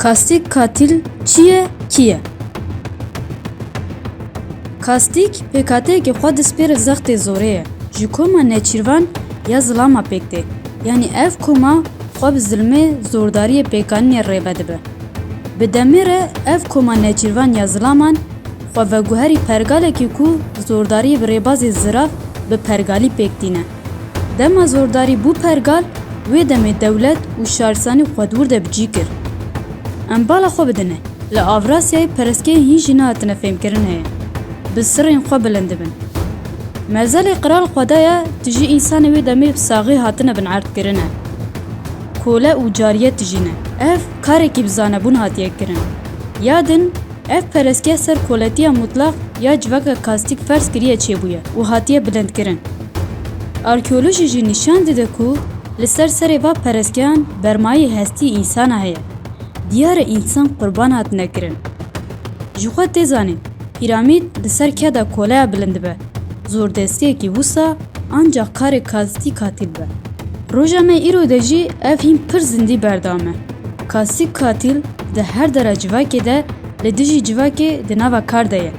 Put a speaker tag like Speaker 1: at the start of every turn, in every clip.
Speaker 1: Kastîk Katîl çi ye, kî ye? Kastîk pêkhateyekî xwe dispêre zextê zorê ye. Ji koma Nêçîrvan ya zilama pêk tê. Yanî ev koma xwe bi zilmê, zordariyê, pêkanînê rêve dibe. Bi demê re ev koma Nêçîrvan ya zilaman xwe veguherî pergalekê ku zordariyê bi rêbazê zirav bi pergalî pêk tîne. Dema zordarî bû pergal, wê demê dewlet û şaristanî xwe dûr de bi cî kir. Em bala xwe bidine, li Avrasyayê pereskeyên hîn jî nehatine fêmkirin heye, bi sirên xwe bilind dibin. Merzelê qral xwe daye, tijî însanê wê demê bi saxî hatine binerdkirine. Kole û cariyet tijî ne. Ev karekî bi zanebûn hatiye kirin. Ya din Ev perestgeha ser koletiya mutlax ya civaka kastîk ferz kiriye çêbûye û hatiye bilindkirin. Arkeolojî jî nîşan dide ku li ser serê van perestgehan bermayê hestî însana heye. Diyar e însan qurban hatine kirin. Jixwe tê zanîn, Pîramîd li ser ke de koleya bilind dibe? Zordestiyekî wisa ancak karê kastî katîl be. Roja me îro de jî ev hîn pir zindî berdame. Kastî katîl di her dera civakê de li dijî civakê di nava kar de ye.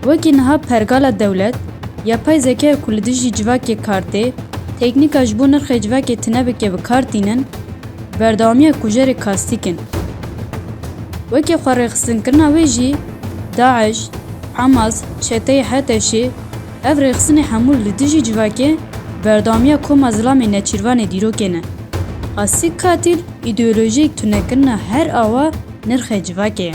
Speaker 1: Wekî niha pergala dewlet, yapay zekaya ku li dijî civakê kar tê, teknîka ji bo nirxê civakê tune bike bi kar tînin, berdewamiya kujerê kastîk in. Wekî xwerêxistinkirina wê jî, DAIŞ, Hamas, çeteyê HTŞ'ê, ev rêxistinê hemû li dijî civakê berdewamiya koma zilamê neçîrvanê dîrokê ne. Asîg Katîl, îdeolojiyek tunekirina her awa nirxê civakê ye.